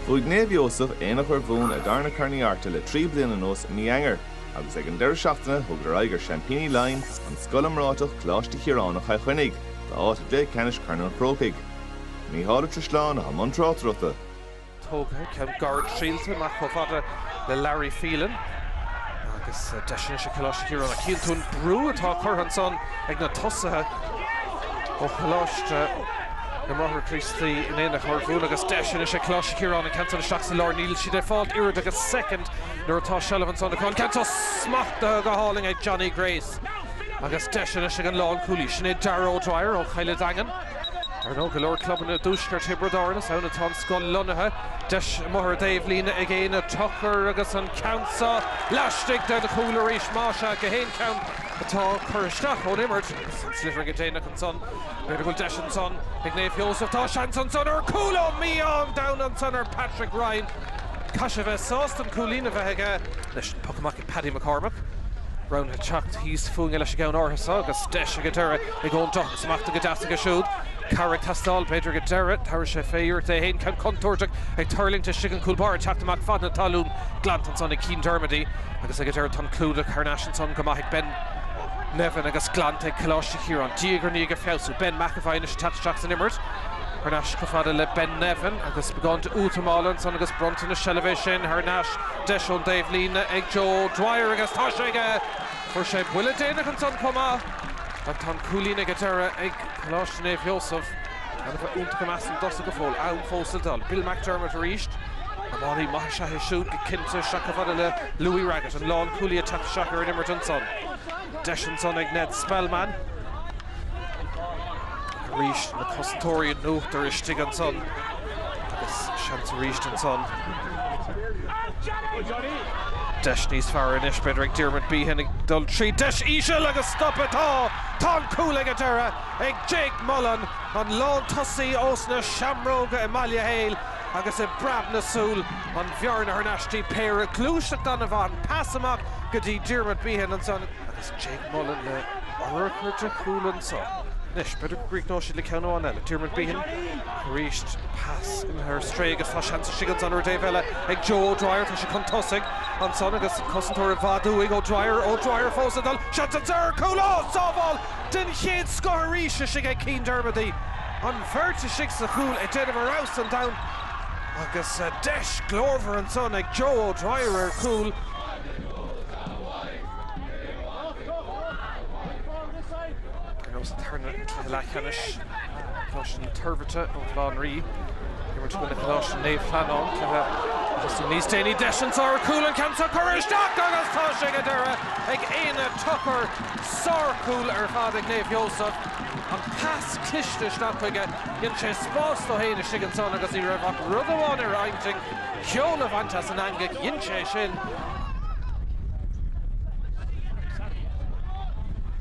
Bhuaigh Naomh Iósaf, Aonach Urmhumhan a dtarna Corn Uí Artaigh le trí bliana anuas i mí Eanáir, agus ag an deireadh seachtaine thugadar aghaidh ar seaimpíní Laighean, an scoil iomráiteach Coláiste Chiaráin Chill Chainnigh, d'áit i gcluiche ceannais Chorn an Chrócaigh. Mícheál Ó Drisleáin atá i mbun tráchtaireachta. Tógtha ceann gairid scaoilte amach chomh fada le Larry Phelan agus deis anois ag Coláiste Chiaráin a chinntiú an brú atá curtha ansan ag na tosaithe ó Choláiste na mBráithre Críostaí in Aonach Urmhumhan agus deis anois ag Coláiste Chiaráin an ceann san isteach sa lár. Níl siad ag fáil oiread agus soicind nuair atá seilbh ansan acu. An ceann seo smachtaithe go hálainn ag Johnny Grace agus deis anois ag an lánchúlaí, sin é Darragh O'Dwyer ó Chill an Daingin. Ar ndóigh, go leor clubanna i dtuaisceart Thiobraid Árann, is ann atá an scoil lonnaithe. Deis amuigh ar taobh líne ag Éanna Tucker agus an ceann seo laistigh den chúl arís. Más ea, gach aon cheann atá curtha isteach ón imirt agus an sliotar ag an déanach. ansan. B'fhéidir go bhfuil deis ansan ag Naomh Sheosamh. Tá seans ansan ar chúl ó, mí-ádh an domhain ansan ar Patrick Ryan. Caithfidh sé bheith sásta an cúilín a bheith aige leis an poc amach ag Paddy McCormack. Roghnaigh teacht thíos fúinne leis an gceann áirithe seo agus deis ag an deireadh ag Eoghan Doughan. Smachtaithe go deas aige siúd. Cabhair ag teastáil b'fhéidir ag an deireadh. Tabharfaidh sé fé iarracht é féin. Ceann contúirteach ag tuirlingt istigh an cúl báire ag teacht amach fad na talún. Glanta ansan ag Cian Dermody agus ag an deireadh tá an clúdach thar n-ais ansan go maith ag Ben Nevin agus glanta ag Coláiste Chiaráin diaidh ar ndiaidh ag feabhsú. Ben McEvoy anois ag teacht isteach san imirt. Thar n-ais chomh fada le Ben Nevin agus beagán d'útamáil ansan agus bronntanas seilbhe é sin. Thar n-ais, deis ón dtaobh líne ag Joe Dwyer agus tá sé aige! Fuair sé buille déanach ansan chomh maith. Ach tá an cúilín ag an deireadh ag Coláiste Naomh Sheosamh. Gan a bheith iontach i measc na dtosaithe go fóill, am fós le dul. Bill McDermott arís. Iománaí maith is ea é siúd go cinnte, isteach chomh fada le Louis Raggett. An lánchúlaí ag teacht isteach ar an imirt ansan. Deis ansan ag Ned Spellman. Arís na cosantóirí in uachtar istigh ansan. Agus seans arís ansan. Deis níos fearr anois b'fhéidir ag Diarmuid Behan ag dul tríd. Deis íseal agus stop atá! Tá an cúl ag an deireadh! ag Jake Mullen an lántosaí ós na Seamróga i mBaile Héil agus i bpreab na súl an bhearna thar n-ais dtí péire gluaiseacht an-mhaith, pas amach go dtí Diarmuid Behan ansan, agus Jake Mullen le urchar de chúl ansan, anois, b'fhéidir go gcríochnóidh siad le ceann amháin eile, Diarmuid Behan arís, pas imithe ar strae agus tá seans istigh ansan ar an dtaobh eile ag Joe O'Dwyer, tá sé chun tosaigh ansan agus cosantóir i bhfad uaidh, O'Dwyer, O'Dwyer fós ag dul, seans ansan ar chúl, oh! sábháil! den chéad scoth arís istigh ag Keane Dermody, an bheirt istigh sa chúl ag déanamh a raibh san domhan agus deis glórmhar ansan ag Joe O'Dwyer ar chúl. Ar nós tuirne an chluiche leathcheannais, Coláiste na Toirbhirte ó Bhaile Átha an Rí ag imirt i gcoinne Choláiste Naomh Flannáin, cluiche a thosaigh níos déanaí, deis anso ar chúl, an ceann seo curtha isteach agus tá sé ag an deireadh ag Éanna Tucker. Sárchúl ar fad ag Naomh Sheosamh. An pas cliste isteach chuige. Dhein sé spás dó féin istigh ansan agus ní raibh ach rud amháin ar a intinn, ceol a bhaint as an eangaigh. Dhein sé é sin.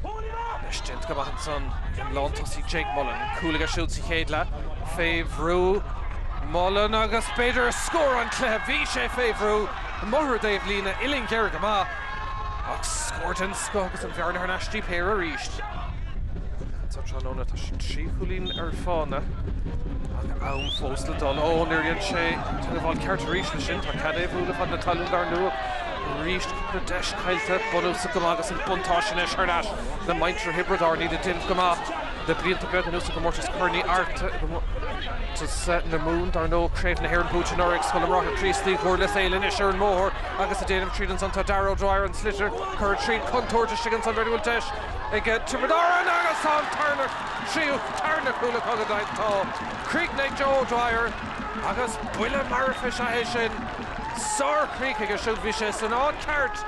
Anois déanta go maith ansan ag an lántosaí Jake Mullin. Cúl aige siúd sa chéad leath. Fé bhrú. Mullin agus b'fhéidir scór an chluiche. Bhí sé fé bhrú. Amuigh ar an dtaobh líne. Uillinn ghéar go maith. Ach scór den scoth agus an bhearna thar n-ais go dtí péire arís. ansa tráthnóna tá siad trí chúilín ar fána ach am fós le dul. Ó, níor dhein sé an tógáil cheart arís leis sin. Tá cead é a bhualadh fan na talún dar ndóigh. Arís cúpla deis caillte. Bunúsach go maith agus an buntáiste anois thar n-ais le muintir Thiobraid Árann iad ag déanamh go maith. Le blianta beaga anuas i gComórtas Corn Uí Airt i gComórtas na Mumhan, dar ndóigh, Craobh na hÉireann buaite anuraidh ag Scoil na mBráithre Críostaí, Dhurlas Éile anois ar an mbóthar agus ag déanamh tríd ansan tá, Darragh O'Dwyer an sliotar curtha tríd, contúirt istigh ansan, bhfuil deis ag Tiobraid Árann agus tá an tarna tríú, tarna cúl acu go deimhin, tá críochnaithe ag Joe O'Dwyer agus buille marfach is ea é sin, sárchríoch aige siúd, bhí sé san áit cheart.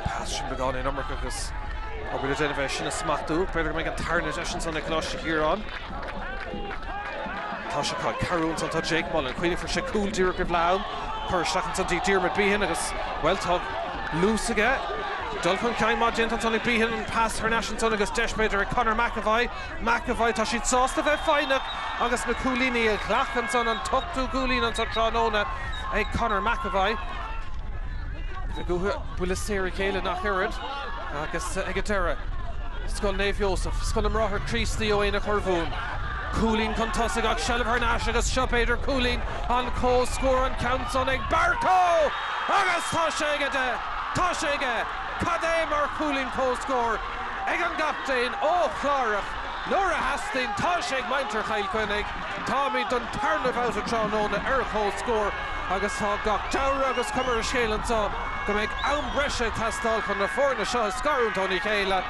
Pas sin beagán in iomarca agus an bhfuil le déanamh é sin a smachtú? B'fhéidir go mbeidh an tarna deis ansan ag Coláiste Chiaráin. Tá sé curtha trasna ansan dtí Jake Mullen. Cuimhnigh fuair sé cúl díreach roimh leath am. Curtha isteach ansan dtí Diarmuid Behan agus, bhuel, tá luas aige. Dul chun cinn maith déanta ansan ag Behan. An pas thar n-ais ansan agus deis b'fhéidir ag Conor McEvoy. McAvoy, tá siad sásta bheith foighneach agus na cúilíní a ghlacadh ansan an t-ochtú cúilín ansan tráthnóna ag Conor McAvoy. Bheadh uathu buille saor a ghéilleadh ach oiread agus ag an deireadh, Scoil Naomh Iósaf, Scoil na mBráithre Críostaí ó Aonach Urmhumhan, cúilín chun tosaigh ach seilbh thar n-ais agus seo b'fhéidir cúilín an chomhscóir an ceann san ag Barcoe! Agus tá sé aige! Tá sé aige! Cad é mar chúilín comhscóir! ag an gcaptaen ó Chlárach nuair a theastaigh, tá sé ag muintir Chill Chainnigh. Táimid don tarna bhabhta tráthnóna ar comhscór agus tá gach dealramh, agus cuma ar an scéal anseo, go mbeidh am breise ag teastáil chun na foirne seo a scarúint óna chéile.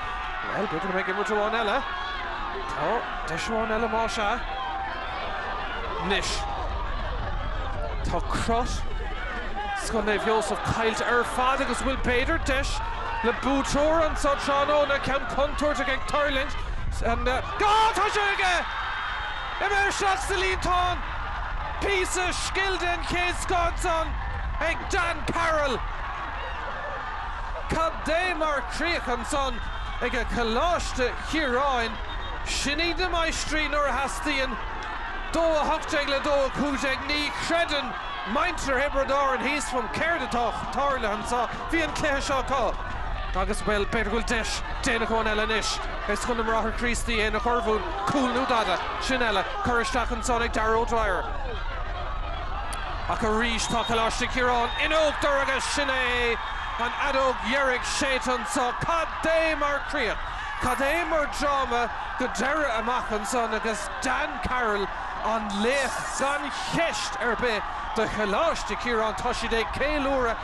Bhuel, b'fhéidir go mbeidh imirt amháin eile. Tá deis amháin eile más ea. Anois tá crot Scoil Naomh Iósaf caillte ar fad agus an bhfuil, b'fhéidir, deis le buaiteoir anseo tráthnóna, ceann contúirteach ag tuirlingt san áit. Tá sé aige! Imeartha isteach sa líontán! Píosa scil den chéad scoth ansan ag Dan Carroll. Cad é mar chríoch ansan ag a choláiste! Chiaráin, Sin iad na maistrí nuair a theastaíonn. Dó a hocht déag le dó a cúig déag, ní chreideann muintir Thiobraid Árann thíos fum céard atá tarlaithe anseo, bhí an cluiche seo acu. Agus, bhuel, b'fhéidir go bhfuil deis déanach amháin eile anois ag Scoil na mBráithre Críostaí, é ina ghorbhún, cúl nó dada, sin é, é, curtha isteach ansan ag Darragh O'Dwyer. Ach arís tá Coláiste Chiaráin in uachtar agus sin é an fheadóg dheiridh séidte anseo. Cad é mar chríoch! Cad é mar dráma go deireadh amach ansan agus Dan Carroll an laoch gan cheist ar bith do Choláiste Chiaráin. Tá siad ag ceiliúradh.